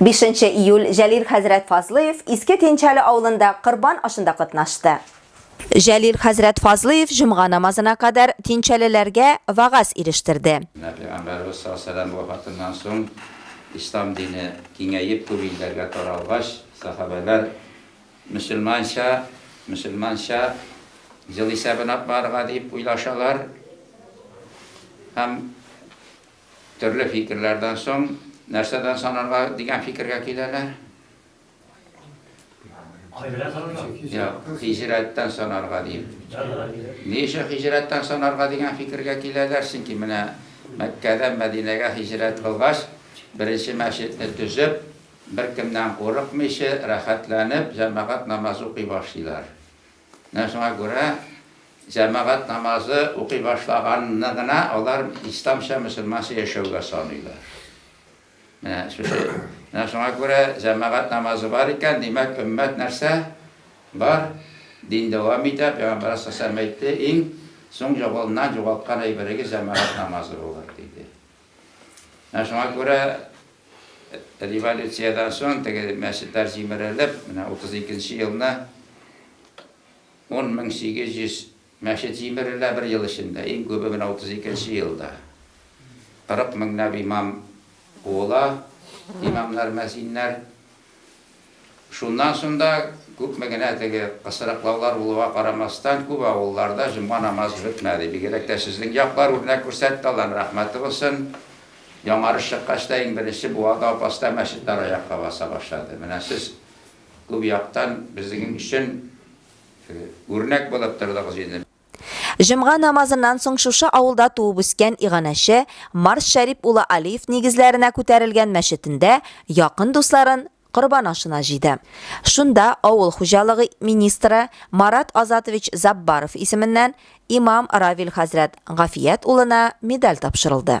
Бишенче июль Җәлил хәзрәт Фазлыев Иске Тинчәле авылында корбан ашында катнашты. Җәлил хәзрәт Фазлыев җомга намазына кадәр тинчәлеләргә вәгазь ирештерде. Менә Пәйгамбәребез саллаллаһу галәйһи ва сәлләм вафатыннан соң Ислам дине киңәеп күп илләргә таралгач, сәхабәләр мөселманча, мөселманча ел исәбен атмарга дип уйлашалар һәм, Төрле фикерләрдән соң, нәрсәдән санарга дигән фикергә киләләр? Хәзрәт санарга. Йә, хиҗрәттән санарга дим. Ни өчен хиҗрәттән санарга дигән фикергә киләләр? Чөнки менә Мәккәдән Мәдинәгә хиҗрәт кылгач, беренче мәчетне төзеп, беркемнән курыкмыйча, рәхәтләнеп, җәмәгать намазы укый башлыйлар. Менә шуңа күрә җәмәгать намазы укый башлаганны гына алар исламча, мөселманча яшәүгә саныйлар. Менә шушы. Менә шуңа күрә җәмәгать намазы бар икән, димәк, өммәт нәрсә? Бар. Дин дәвам итә. Пәйгамбәр сасәм әйтте, иң соң җабылыннан җугалткан әйберегез җәмәгать намазы булыр, диде. Менә шуңа күрә революциядән соң теге мәчетләр җимерелеп, менә 32 нче елны 10800 мәчет җимерелә бер ел эчендә, иң күбе менә 32 нче елда. 40 меңләп имам куыла, имамнар, мәзиннәр. Шуннан соң да күпме генә теге пысрыклаулар булуга карамастан, күп авылларда җомга намазы бетмәде. Бигрәк тә сезнең яклар үрнәк күрсәтте, Алланың рәхмәте булсын. Яңарыш чыккач та иң беренче Буада Апаста мәчетләр аякка баса башлады. Менә сез күп яктан безнең өчен үрнәк булып тордыгыз инде. Җомга намазыннан соң шушы авылда туып-үскән иганәче Марс Шәрип улы Алиев нигезләренә күтәрелгән мәчетендә якын дусларын корбан ашына җыйды. Шунда авыл хуҗалыгы министры Марат Азатович Заббаров исеменнән имам Равил хәзрәт Гафият улына медаль тапшырылды.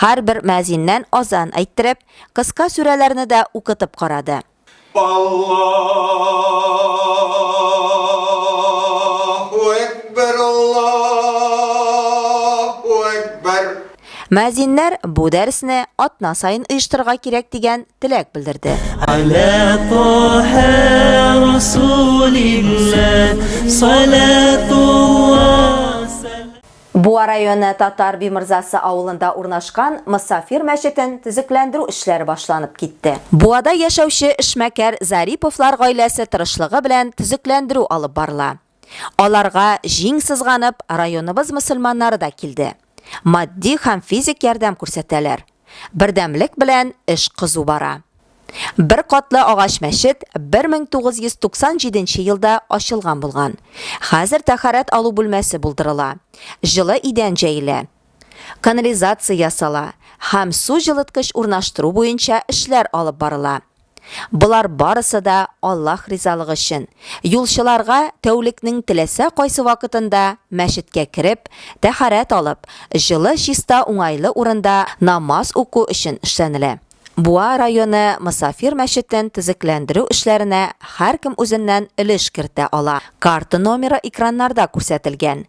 Һәрбер мөәзиннән азан әйттереп, кыска сүрәләрне дә укытып карады. Мөәзиннәр бу дәресне атна саен оештырырга кирәк дигән теләк белдерде. Буа районы Татар Бимырзасы авылында урнашкан Мосафир мәчетен төзекләндерү эшләре башланып китте. Буада яшәүче эшмәкәр Зариповлар гаиләсе тырышлыгы белән төзекләндерү алып барыла. Аларга җиң сызганып районыбыз мөселманнары да килде. Матди һәм физик ярдәм күрсәтәләр. Бердәмлек белән эш кызу бара. Бер катлы агач мәчет 1997 нче елда ачылган булган. Хәзер тәһарәт алу бүлмәсе булдырыла, җылы идән җәелә, канализация ясала һәм су җылыткыч урнаштыру буенча эшләр алып барыла. Болар барысы да Аллаһ ризалыгы өчен, юлчыларга тәүлекнең теләсә кайсы вакытында мәчеткә кереп, тәһарәт алып, җылы чиста уңайлы урында намаз уку өчен эшләнелә. Буа районы мосафир мәчетен төзекләндерү эшләренә һәркем үзеннән өлеш кертә ала. Карта номеры экраннарда күрсәтелгән.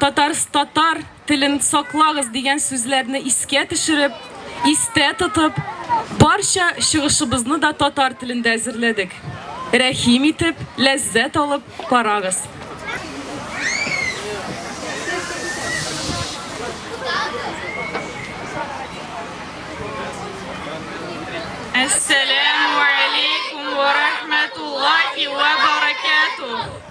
Татарс татар телен саклагыз дигән сүзләрне искә төшереп, истә тотып, барча чыгышыбызны да татар телендә әзерләдек. Рәхим итеп, ләззәт алып карагыз. Әссәләмү әләйкүм вә рәхмәтуллаһи вә бәрәкәтүһ!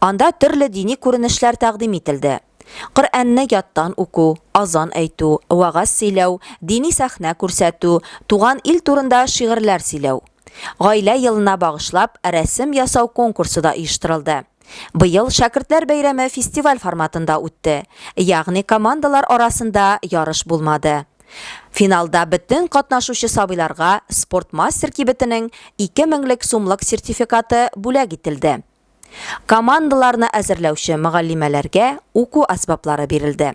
Анда төрле дини күренешләр тәкъдим ителде. Коръәнне яттан уку, азан әйтү, вәгазь сөйләү, дини сәхнә күрсәтү, туган ил турында шигырьләр сөйләү. Гаилә елына багышлап, рәсем ясау конкурсы да оештырылды. Быел Шәкертләр бәйрәме фестиваль форматында үтте, ягъни командалар арасында ярыш булмады. Финалда бөтен катнашучы сабыйларга Спортмастер кибетенең 2 меңлек сумлык сертификаты бүләк ителде. Командаларны әзерләүче мөгаллимәләргә уку әсбаплары бирелде.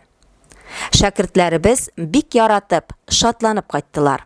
Шәкертләребез бик яратып, шатланып кайттылар.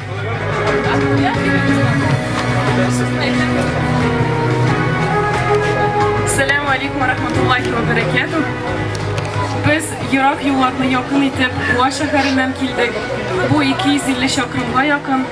Сәләм алейкум рахматуллахи ва баракату. Без ерак юлларны якын итеп Буа шәһәреннән килдек. Бу 250 чакрымга якын.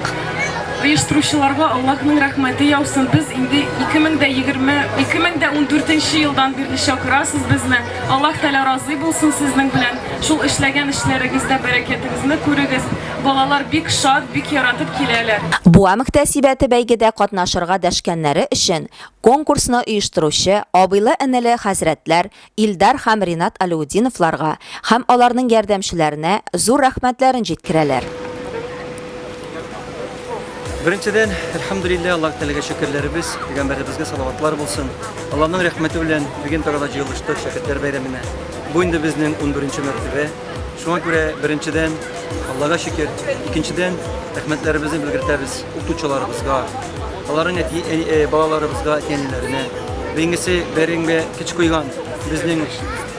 Оештыручыларга Аллаһның рәхмәте яусын. Без инде 2020 2014 елдан бирле чакырасыз безне. Аллаһ Тәгалә разый булсын сезнең белән. Шул эшләгән эшләрегездә бәрәкәтегезне күрегез. Балалар бик шат, бик яратып киләләр. Буа мөхтәсибәте бәйгедә катнашырга дәшкәннәре өчен конкурсны оештыручы абыйлы-энеле хәзрәтләр Илдар һәм Ринат Алеутдиновларга һәм аларның ярдәмчеләренә зур рәхмәтләрен җиткерәләр. Беренчедән, әлхәмдүлилләһ, Аллаһы Тәгаләгә шөкерләребез, пәйгамбәребезгә салаватлар булсын. Аллаһның рәхмәте белән бүген Тарада җыелыштык, шәкертләр бәйрәменә. Бу инде безнең унберенче мәртәбә. Шуңа күрә, беренчедән, Аллага шөкер, икенчедән, рәхмәтләребезне белгертәбез укытучыларыбызга, аларның әти ә, ә, балаларыбызга, әти-әниләренә. Бәйгесе бәреңгә кич куйган безнең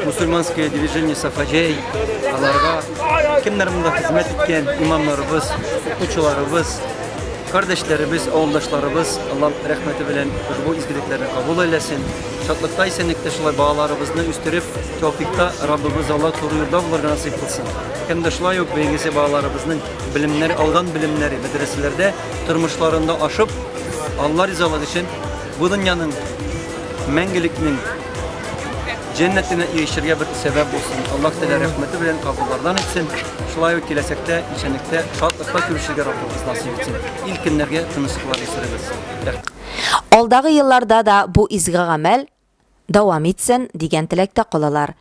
мусульманское движение Сафаҗәй, аларга кемнәр монда хезмәт иткән имамнарыбыз, укытучыларыбыз, кардәшләребез, авылдашларыбыз, Аллам рәхмәте белән бу изгелекләрне кабул айләсен. Шатлыкта исәнлектә шулай балаларыбызны үстереп, Тәүфикта Раббыбыз Алла туры юлда булырга насыйп кылсын. Һәм дә шулай ук бәйгесе балаларыбызның белемнәр алган белемнәре мәдрәсәләрдә тормышларында ашып, Алла ризалыгы өчен бу дөньяның мәңгелекнең җәннәтенә ирешергә бер сәбәп булсын. Аллаһ Тәгалә рәхмәте белән кабуллардан итсен. Шулай ук киләчәктә исәнлектә, шатлыкта күрешергә Раббыбыз насыйп итсен. Илкеннәргә тынычлыклар исерегез. Алдагы елларда да бу изге гамәл дәвам итсен, дигән теләктә калалар.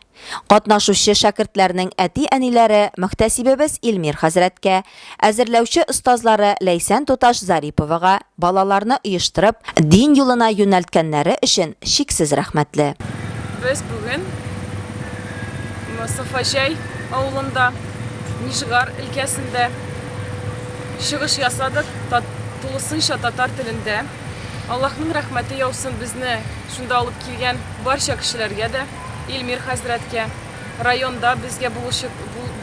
Катнашучы шәкертләрнең әти-әниләре мөхтәсибебез Илмир хәзрәткә, әзерләүче остазлары Ләйсән туташ Зариповага балаларны оештырып, дин юлына юнәлткәннәре өчен чиксез рәхмәтле. Без бүген Мостафаҗәй авылында, Нижгар өлкәсендә чыгыш ясадык, тулысынча татар телендә. Аллаһның рәхмәте яусын безне шунда алып килгән барча кешеләргә дә, Илмир хәзрәткә, районда безгә булышып,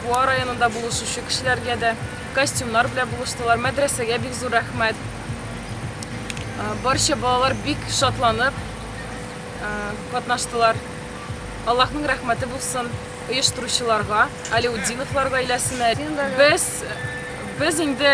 Буа районында булышучы кешеләргә дә, костюмнар белән булыштылар, мәдрәсәгә бик зур рәхмәт. Барча балалар бик шатланып катнаштылар. Аллаһның рәхмәте булсын оештыручыларга, Алеутдинов лар гаиләсенә. Без, без инде